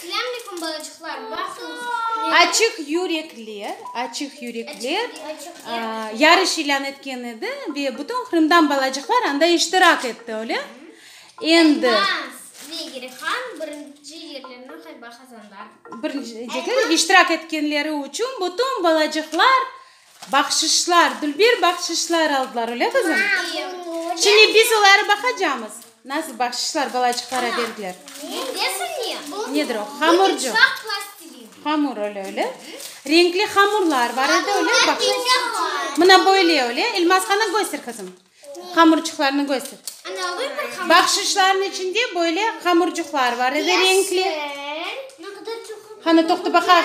Selamünaleyküm balacıqlar, baqıñız, meni. Açıq yürekler, açıq yürekler yarış ilân etken edi ve bütün Qırımdan balacıqlar anda iştirak etti, öyle? Endi. Elmaz ve Girihan birinci yerlerni qayba qazandılar. Birinci yerler iştirak etkenleri içün bütün balacıqlar Bahşışlar, dülber bahşışlar aldılar, öyle qızım? Şimdi biz oları baqacamız. Nasıl bahşışlar balacıqlara berdiler? Nedir o? Hamurcu. Hamur öyle öyle. Renkli hamurlar var edi öyle bak. Mına böyle öyle. Elmaskanı göster kızım. Hamurcuqlarını göster. Bahşışların içinde böyle hamurcuqlar var edi renkli. Hanı toqtu baqa.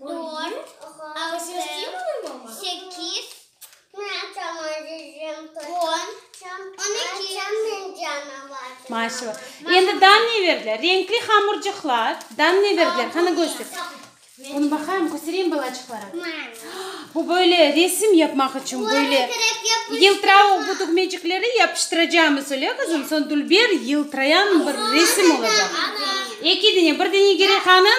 Dört, altı, sekiz, on, on eki. Maşallah. Endi dan ne berdiler? Renkli hamurcıqlar. Dan ne berdiler? Qana, köster. Bunı baqayım, köstereyim balaçıqlara. Bu böyle resim yapmaq içün böyle yıltırav bu tügmecikleri yapıştıracamız, öyle, qızım? Soñ dülber yıltırayan bir resim olacaq. Eki dene, bir dene gerek anın.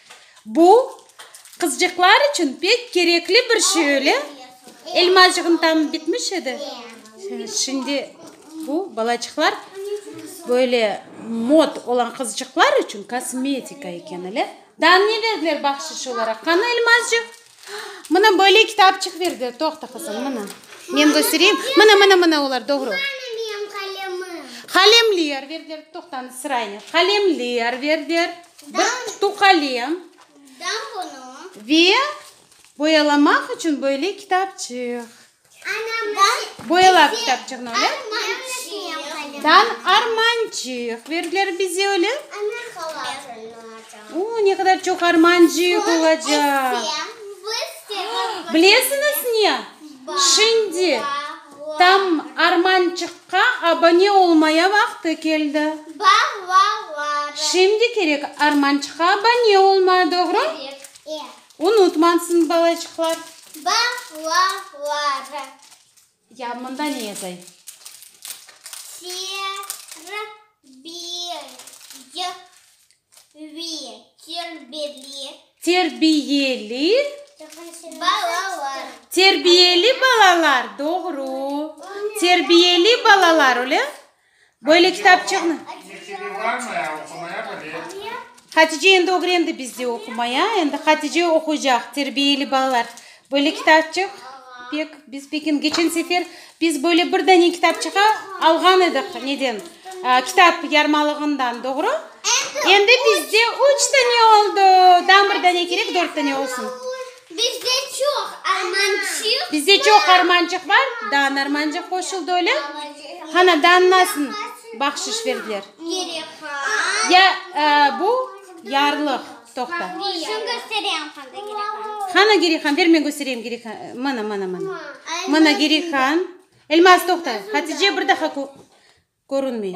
Bu, qızcıqlar içün pek kerekli bir şey, öyle? Elmacığın tamı bitmiş edi. Şimdi bu, balaçıqlar, böyle mod olan qızcıqlar içün kosmetika eken, öyle? Daa ne berdiler bahşiş olaraq? Qanı, Elmacığ? Mına böyle kitapçıq berdi. Toqta, qızım, mına. Men köstereyim. Mına, mına, mına olar, doğru. Qalemler berdiler. Toqtañız, sıraynen. Qalemler berdiler. Bir qutu qalem. Ve boyalamaq içün böyle kitapçıq. Boyala kitapçığını öyle. Dan armancıq verdiler bize öyle. Oo, ne kadar çoq armancıq olacaq. Bilesiñiz ne? Şimdi tam armançıqqa abone olmaya vaqtı keldi. Şimdi kerek armançıqqa abone olma, doğru? Unutmansıñ, balaçıqlar. Balaları. Ya mında ne yazay? Terbiyevi. Terbiyeli. Terbiyeli. Balalar. Terbiyeli balalar, doğru. Terbiyeli balalar, öyle? Böyle kitapçığını. Hatice endi ögrendi bizde oqumaya, endi Hatice oquycaq, terbiyeli balalar. Böyle kitapçıq pek, biz peki keçen sefer biz böyle bir dane kitapçıqı alğan ediq, neden, kitap yarmalığından, doğru? Endi bizde üç dane oldu, daha bir dane kerek, dört dane olsun. Bizde çoq armançıq. Bizde çoq armançıq bar. Dan armançıq qoşuldı öyle. Hana dan nasın bahşiş verdiler? Ya bu yarlıq. Toqta. Şun köstereyim qanda gerihan. Hana gerihan ver men köstereyim gerihan. Mına mına mına. Mına gerihan. Elmaz toqta. Hatice bir daha körünmey.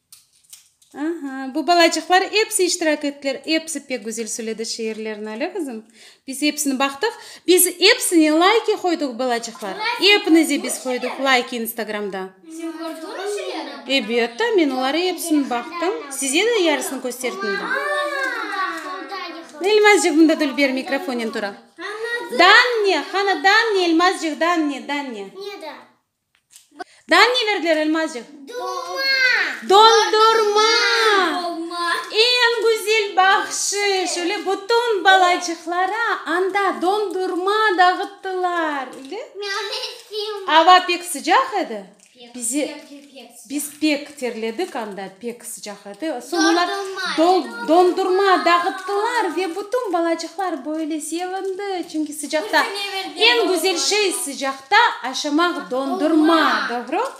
Aha, bu balacıqlar epsi iştirak ettiler, epsi pek güzel söyledi şiirlerini, öyle qızım? Biz epsini baqtıq, biz epsine layki qoydıq, balacıqlar, epinize biz qoydıq layki instagramda. Sen kördün o şeyleri? Ebet ta, men oları epsini baqtım, size de yarısını kösterdim de. Elmazcıq, mında Dülber mikrofonen tura. Danne, qani, Danne, Elmazcıq, Danne, Danne. Neden? Daa neler der Almazcıq? Dolma. Dondurma. Dolma. Eñ güzel bahşış. Öyle bütün balacıqlara anda dondurma dağıttılar. Öyle? Ava pek sıcaq edi. Bize. Biz pek terledik anda, pek sıcaq edi. Soñ olar dondurma dağıttılar ve bütün balacıqlar böyle sevindi. Çünki sıcaqta eñ güzel şey, sıcaqta aşamaq dondurma, doğru?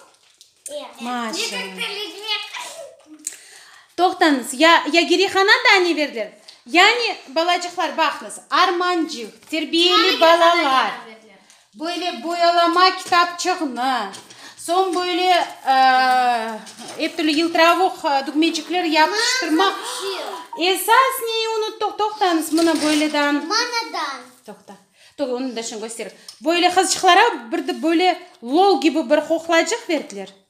Toqtañız, ya Gerihana da ne berdiler? Yani balacıqlar, baqıñız, Armancıq, terbiyeli balalar. Böyle boyalama kitapçığnı, soñ böyle ep türlü yıltıravuq dükmecikler yapıştırmaq. Esas neyi unuttıq, toqtañız, mına böyledan. Manadan. Toqta, dur, onı da şimdi köstereyim. Böyle qızcıqlara bir de böyle lol kibi bir qoqlacıq berdiler.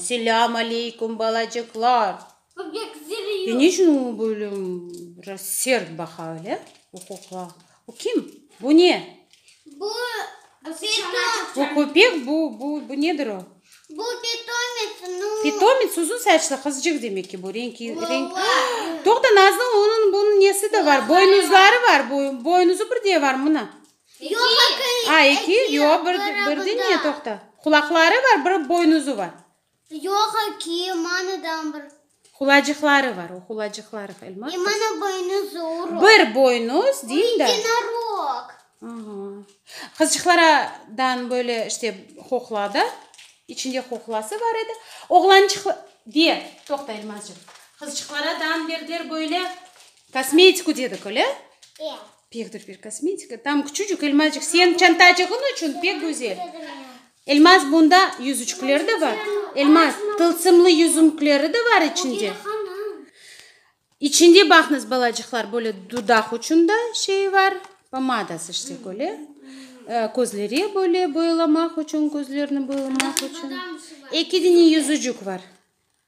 Selam aleykum balacıqlar. Ya ne içün o böyle sert baqa öyle? O kukla. Bu kim? Bu ne? Bu köpek, bu nedir o? Bu pitomets. Pitomets, uzun saçlı qızcıq demek ki bu. Toqta, Nazlı, onıñ bunıñ nesi de bar, boynuzları bar, boynuzu bir de var mına. Eki, yoq, birdi ne, toqta. Qulaqları var, bir boynuzı var. Yoq, eki, manadan bir. Hulacıqları var, o hulacıqları. Bir boynuz, deyin da. Qızcıqlardan böyle işte qoqla da, içinde qoqlası var edi. Oğlançıqlar, de, toqta, Elmazcığım. Qızcıqlardan berdiler böyle kosmetiku dedik, öyle? Pekdir bir kosmetika, tam küçücük elmacıq, señ çantacığıñ içün pek güzel. Elmaz bunda yüzüçkler de bar, elmaz tılsımlı yüzümkleri de bar içinde. İçinde baqnız balacıqlar böyle dudaq içün da şey var, pomadası işte böyle, közlere böyle boyalamaq içün, közlerni boyalamaq içün. Eki dene yüzücük var.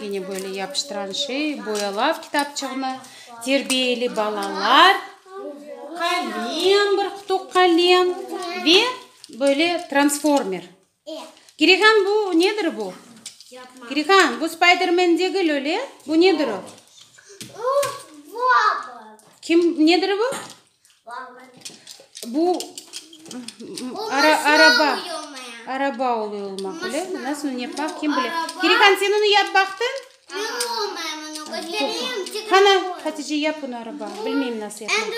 Gene böyle yapıştıran şey, boyalav kitapçığını, terbiyeli balalar, qalem, bir qutuq qalem ve böyle transformer. Kirihan, bu nedir bu? Kirihan, bu Spidermen degil öyle, bu nedir o? Kim, nedir bu? Bu araba, araba oluy olmaq, bilesizmi? Nasıl nı yapmaq, kim bile. Kirihan, sen onı yap baqtıñ? Qana, Hatice, yap bunı araba. Bilmeyim nasıl yapmaqnı.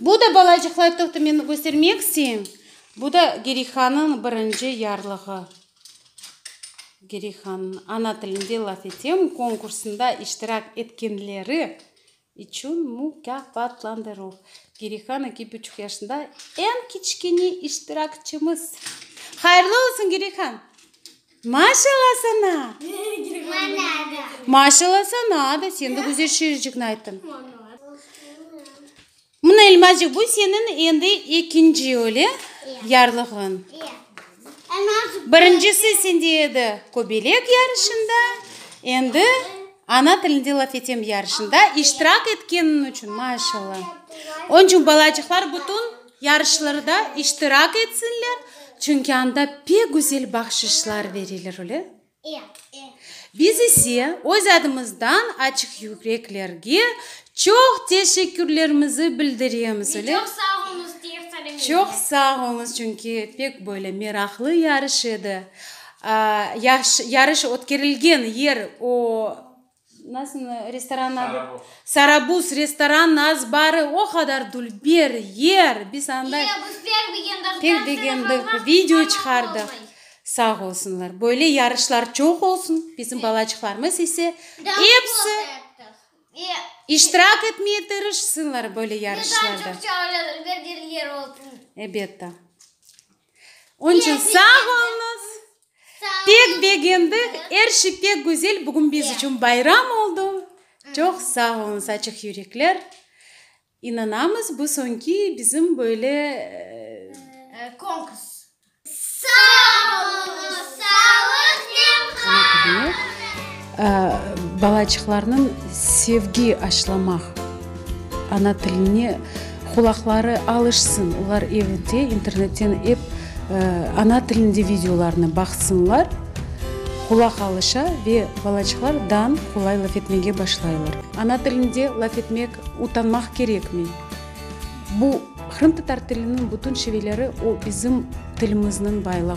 Bu da, balacıqlar, toqta, men göstermek isteyim. Bu da Kirihanıñ birinci yarlığı. Gerihan, ana tilinde laf etem, konkursında iştirak etkenleri içün mukâfatlandıruv. Gerihan eki buçuq yaşında, eñ kiçkene iştirakçimiz. Hayırlı olsun, Gerihan! Maşalla sana! Maşalla sana da, sen de güzel şiircikni ayttıñ. Mına, Elmacıq, bu seniñ endi ekinci, öyle, yarlığıñ. Birincisi sende edi köbelek yarışında, endi ana tilinde laf etem yarışında iştirak etkeniñ içün, maşalla. Onıñ içün balacıqlar bütün yarışlarda iştirak etsinler, çünki anda pek güzel bahşışlar berilir, öyle. Biz ise öz adımızdan açıqyüreklerge çoq teşekkürlerimizi bildiremiz, öyle mi? Çoq sağ oñuz, çünki pek böyle meraqlı yarış edi. Yarış ötkerilgen yer o Nasıl restoranın adı? Sarabuz. Sarabuz restoran naz barı o qadar dul bir yer biz anda. Eee biz pek begendik. Pek begendik video çıqardıq. Sağ olsunlar böyle yarışlar çoq olsun bizim balaçıqlarımız ise episi iştirak etmeye tırışsınlar böyle yarışlarda. Ebet da. Onıñ içün sağ oluñız. Pek begendik, er şey pek güzel, bugün biz içün bayram oldı. Çoq sağ oluñız, açıq yürekler. İnanamız, bu soñki bizim böyle Konkurs. Sağ oluñız, sağlıq, nemhaq! Balaçıqlarnıñ sevgi aşlamaq, ana tiline qulaqları alışsın, olar evde internetten ep ana tilinde videolarnı baqsınlar, qulaq alışa ve balaçıqlar dan qolay laf etmege başlaylar. Ana tilinde laf etmek utanmaq kerekmey. Bu, qırımtatar tiliniñ bütün şiveleri, o bizim tilimizniñ baylığı.